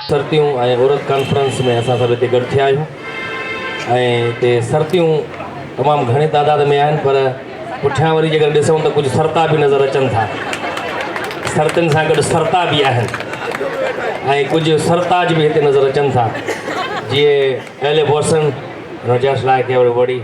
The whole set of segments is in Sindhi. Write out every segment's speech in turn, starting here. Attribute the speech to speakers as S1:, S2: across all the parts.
S1: سرتيون ۽ عورت ڪانفرنس ۾ اسان سڀ هتي گڏ ٿيا آهيون ۽ هتي سرتيون تمام گهڻي تعداد ۾ آهن پر پٺيان وري جيڪڏهن ڏسون ته ڪجهه سرتا به نظر اچن ٿا سرتين سان گڏ سرتا به آهن ۽ ڪجهه سرتاج به هتي نظر اچن ٿا جيئي اهل بوسن رجاش لاء کي وڙي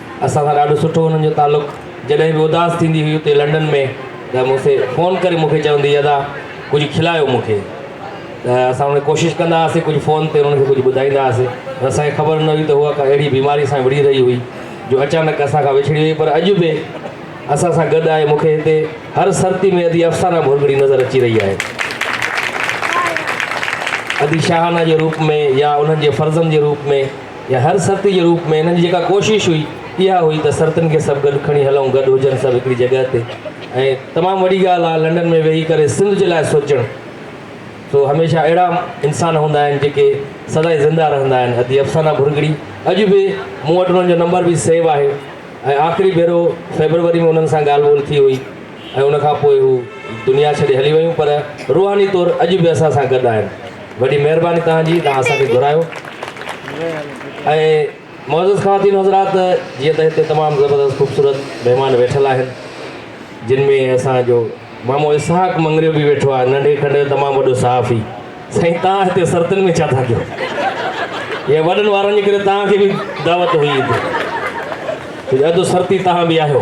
S1: اسان سان ڏاڍو سٺو انهن جو تعلق جڏهن به اداس ٿيندي هئي اتي لنڊن ۾ ته مون سي فون ڪري مونکي چوندي هئي ادا ڪجهه کلايو مون کي ته اسان انهن کي ڪوشش ڪندا هئاسي ڪجهه فون تي انهن کي ڪجهه ٻڌائيندا هئاسي پر اسان کي خبر نه هئي ته هوء ڪا اهڙي بيماري سان وڙهي رهي هئي جو اچانڪ اسان کان وڇڙي وئي پر اڄ به اسان سان گڏ آهي مونکي هتي هر سرتي ۾ ادي افسانه ڀرڳڙي نظر اچي رهي آهي ادي شاهانه جي روپ ۾ يا انهن جي فرزند جي روپ ۾ يا هر سرتي جي روپ ۾ هنن جي جيڪا ڪوشش هئي اها هئي ته سرتين کي سڀ گڏ کڻي هلئون، گڏ هجن سڀ هڪڙي جڳهه تي ۽ تمام وڏي ڳالهه آهي لنڊن ۾ ويهي ڪري سنڌ جي لاء سوچڻ سو هميشه اهڙا انسان هوندا آهن جيڪي سدائين زنده رهندا آهن ادي افسانه ڀرڳڙي اڄ به مون وٽ انهن جو نمبر به سيو آهي ۽ آخري ڀيرو فيبروري ۾ انهن سان ڳالهه ٻولهه ٿي هئي. ۽ ان کان پوء هو دنيا ڇڏي هلي ويون پر روحاني طور اڄ به اسان سان گڏ آهن. وڏي مهرباني توهان جي توهان اسان کي گهرايو. ۽ معزز خواتين و حضرات جيئن ته هتي تمام زبردست خوبصورت مهمان ويٺل آهن جن ۾ اسان جو مامو اسحاق مڱريو به ويٺو آهي ننڍي کنڊ جو تمام وڏو صحافي سائين توهان هتي سرتن ۾ ڇا ٿا ڪيو يا وڏن وارن جي ڪري توهان کي به دعوت هئي هتي اڌ سرتي توهان به آهيو.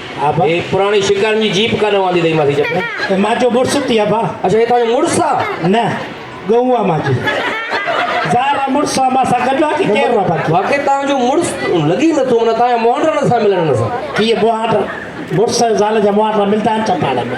S1: اي پراڻي شڪارين جي جيپ ڪا نه واندي تئي ماسي جپ ۾. اي ماجو مڙس ٿي ابا.
S2: اڇا اي تانجو مڙس آ.
S1: نه گئون
S2: آ ماجي زار آ مڙس آ ماسان گڏ آ ڪي ڪير آ باقي. واقعي تانجو مڙس
S1: لڳي نه ٿو معنيٰ تانجا مهانڊا نه ٿا ملن ان سان. ڪي
S2: مهانڊا مڙس زال جا مهانڊا ملدا آهن ڇا پاڻ ۾.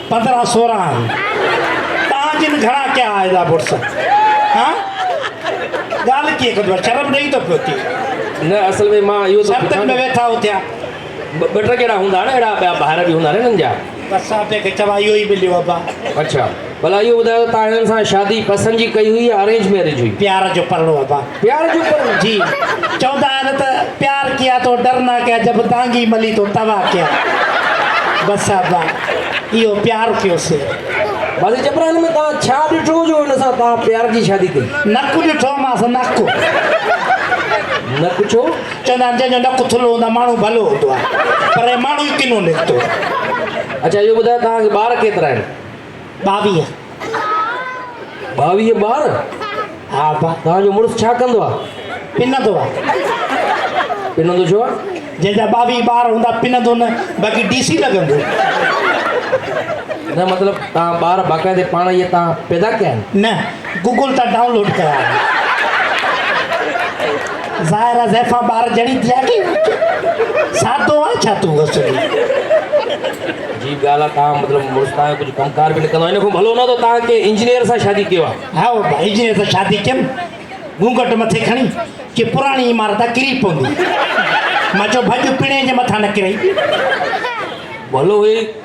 S1: پندرهن سورهن
S2: آهي تان جن گهڻا ڪيا آهي لا بورس ها ڳالهه ڪيئن ڪندو آهي شرم ڏئي ٿو پيو ٿي نه اصل ۾
S1: مان اهو ٿو پڇان ۾ ويٺا اٿيا
S2: ٻه ٽه ڪهڙا
S1: هوندا آهن اهڙا ٻيا ڀائر به هوندا آهن هنن جا بس آپي کي چوا
S2: اهو ئي مليو ابا اڇا ڀلا اهو
S1: ٻڌايو تان هنن سان شادي پسند جي ڪئي هئي يا ارينج ميرج هئي پيار جو پرڻو ابا
S2: پيار جون پرون جي
S1: چوندا
S2: آهن ته پيار ڪيا تو ڊرنا ڪيا جب دانگي ملي تو توا ڪيا بس ابا اهو پيار ٿيو سي بس
S1: جبران ۾ توهان ڇا ڏٺو جو هن سان توهان پيار جي شادي ڪئي نڪ ڏٺو ماس
S2: نڪ
S1: نڪ ڇو چوندا آهن جنهن جو نڪ
S2: ٿلهو هوندو آهي ماڻهو ڀلو هوندو آهي پر هي ماڻهو ئي ڪنو نڪتو اڇا
S1: اهو ٻڌايو توهان کي ٻار ڪيترا آهن
S2: ٻاويهه.
S1: ٻاويهه ٻار؟ ها ابا.
S2: توهان جو مڙس ڇا ڪندو
S1: آهي؟ پنندو آهي. پنندو ڇو آهي؟ جنهن جا ٻاويهه ٻار
S2: هوندا پنندو نه باقي ڊي سي لڳندو.
S1: نه مطلب توهان ٻار باقاعدي پاڻ ئي اتان پيدا ڪيا آهن؟ نه. گوگل تان
S2: ڊائون لوڊ ڪيا آهن. ظاهر آ زيفان ٻار جهڙي ٿي آ ڪي سادو آ ڇا تون بس جي
S1: جي ڳالهه آ تان مطلب مڙس تان ڪجهه ڪم ڪار به نه ڪندو ان کان ڀلو نه تو تان ڪي انجنيئر سان شادي ڪيو آ هائو با انجنيئر سان
S2: شادي ڪيم گونگٽ مٿي کڻي ڪي پراڻي عمارت آ ڪري پوندي مان چو ڀڄ پڻي جي مٿان نه ڪري
S1: ڀلو هي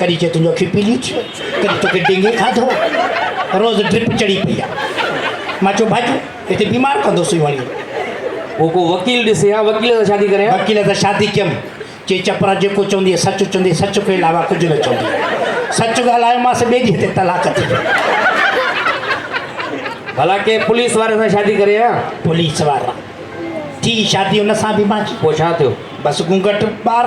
S1: ڪڏھن چئي تنھنجو اکيون
S2: پيليون ٿيون ڪڏھن توکي ڊينگي کاڌو روز ڊرپ چڙھي پئي آ مان چيو ڀڄ ھتي بيمار ڪندوسين وڃي پوء ڪو
S1: وڪيل ڏسي ھا وڪيل سان شادي ڪريان وڪيل سان شادي ڪيم
S2: چئي چپرا جيڪو چوندي سچ چوندي سچ کان علاوه ڪجھه نه چوندي سچ ڳالھايو مانس ٻئي ڏينھن تي طلاق ٿي
S1: ڀلا ڪنھن پوليس واري سان شادي ڪريان پوليس وارا
S2: ٿي شادي ان سان به مانجي پوء ڇا ٿيو بس
S1: گونگٽ
S2: ٻار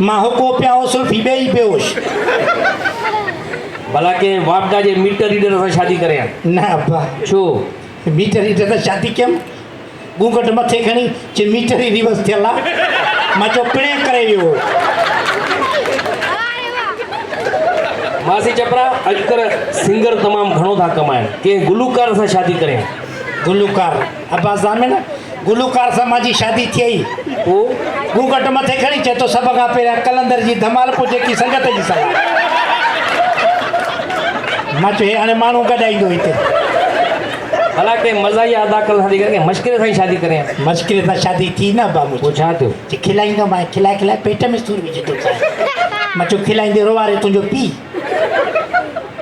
S2: مان هڪو پيا هو سلفي ٻئي ئي بيهوش.
S1: ڀلا ڪنهن واپڊا جي ميٽر ريڊر سان شادي ڪرين ها؟ نه ابا. ڇو؟ ميٽر ريڊر
S2: سان شادي ڪيم. گونگهٽ مٿي کڻي چي ميٽر ئي ريورس ٿيل آ. مان چيو پڻهين ڪري ويو هو.
S1: ماسي چپرا اڄڪلهه سنگر تمام گهڻو ٿا ڪمائين ڪنهن گلوڪار سان شادي ڪرين ها؟ گلوڪار؟
S2: عباس ضامن، گلوڪار سان مانجي شادي ٿيئي. هو گون
S1: گهٽ مٿي کڻي
S2: چئي ٿو، سڀ کان پهريان قلندر جي ڌمال پوء جيڪي سنگت جي صلاح. مان چيو هي هاڻي ماڻهو گڏائيندو هتي.
S1: ڀلا ڪنهن مزاحيه اداڪار سان ٿي ڪرين ڪنهن مشڪري سان ئي شادي ڪرين ها. مشڪري سان شادي
S2: ٿي نه عبا منهنجي. پوء ڇا ٿيو؟ چي
S1: کلائيندو مانء
S2: کلائي کلائي پيٽ ۾ سور وجهي ٿو ٿيان. مان چيو کلائيندي روئاري تنهنجو پيء.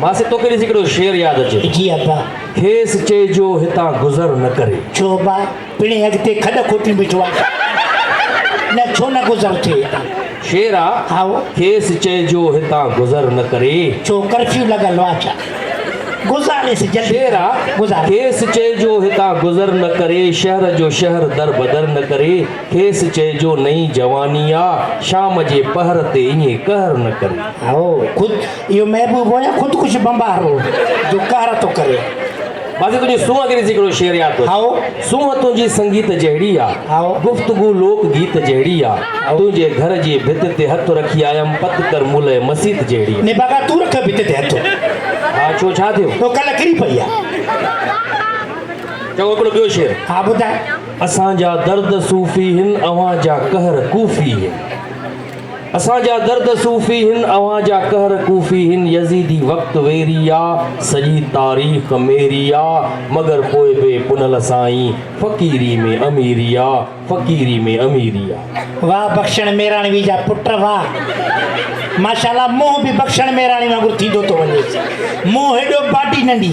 S1: ماسي توکي ڏسي هڪڙو شعر ياد اچي ٿو. جي ابا. کيس
S2: چئجو
S1: هتان گذر نه ڪري. ڇو ابا
S2: پڻهين اڳتي کڏ کوٽيون بيٺو آهي نه ڇو نه گذر ٿئي هتان. شعر آ.
S1: هائو. کيس
S2: چئجو
S1: هتان گذر نه ڪري. ڇو ڪرفيو لڳل
S2: آ ڇا. گذاريس جلدي. شعر آ. گذار.
S1: کيس چئجو هتان گذر نه ڪري شهر جو شهر در بدر نه ڪري کيس چئجو نئين جواني آ شام جي پهر تي ائين قهر نه ڪري. هائو خود.
S2: اهو محبوب هو يا خودڪش بمبار هو جو قهر ٿو ڪري. بس هڪ جو
S1: سونهن انگريزي ڪڙو شعر ياد ٿو اچي. سونهن
S2: تنهنجي
S1: سنگيت جهڙي آ. گفتگو
S2: لوڪ گيت
S1: جهڙي آ. تنهنجي گهر جي ڀت تي هٿ رکي آيم پت ڪر ملئه مسيت جهڙي. ني باغا تون رک ڀت
S2: تي هٿ. ها ڇو ڇا
S1: ٿيو. تو ڪل ڪري پئي آ.
S2: چڱو
S1: هڪڙو ٻيو شعر. ها ٻڌاء.
S2: اسان جا درد
S1: صوفي هن اوهان جا قهر ڪوفي هن. اسان جا درد صوفي هن اوهان جا قهر ڪوفي هن يزيدي وقت ويري آ سڄي تاريخ ميري آ مگر پوء به پنهل سائين فقيري ۾ اميري آ فقيري ۾ اميري آ. واھ بخشڻ
S2: ميراڻوي جا پٽ واھ. ماشاءالله منهن به بخشڻ ميراڻي وانگر ٿيندو ٿو وڃي منهن هيڏو باڊي ننڍي.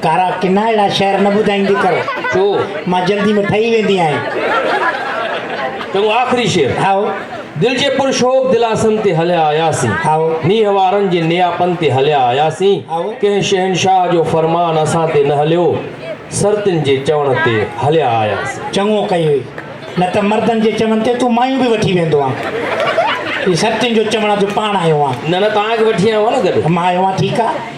S1: ڪارا ڪنا
S2: اهڙا شعر نه ٻڌائيندي ڪر. ڇو؟ مان
S1: جلدي ۾
S2: ٺهي ويندي آهيان.
S1: چڱو آخري شعر. هائو. دل
S2: جي پر
S1: شوق دلاسن تي هليا آياسين. هائو. نينهن
S2: وارن جي
S1: نياپن تي هليا آياسين. هائو. ڪنهن
S2: شهنشاهه
S1: جو فرمان اسان تي نه هليو، سرتين جي چوڻ تي هليا آياسين. چڱو ڪئي هئي.
S2: نه ته مردن جي چوڻ تي تون مايون به وٺي ويندو هان. هي سرتين جو چوڻ جو پاڻ آيو هان. نه نه توهان کي وٺي آيو هان نه
S1: گڏ.
S2: مان
S1: آيو هان
S2: ٺيڪ آ.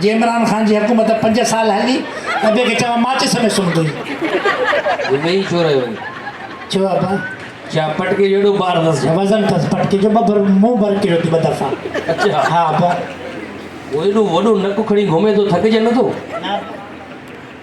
S2: جي عمران خان جي حڪومت پنج سال هلي ته ابي کي چوان ماچس ۾ سمهندوئي.
S1: ويهي ڇو رهيو آهين؟ ڇو ابا؟
S2: ڇا پٽڪي
S1: جو ايڏو بار اٿس ڇا؟ وزن اٿس پٽڪي جو
S2: ٻه ڀر مون ڀر ڪيو ٿي ٻه دفعا. اچا. ها ابا. هو ايڏو
S1: وڏو نڪ کڻي گهمي ٿو ٿڪجي نٿو؟ نه ابا.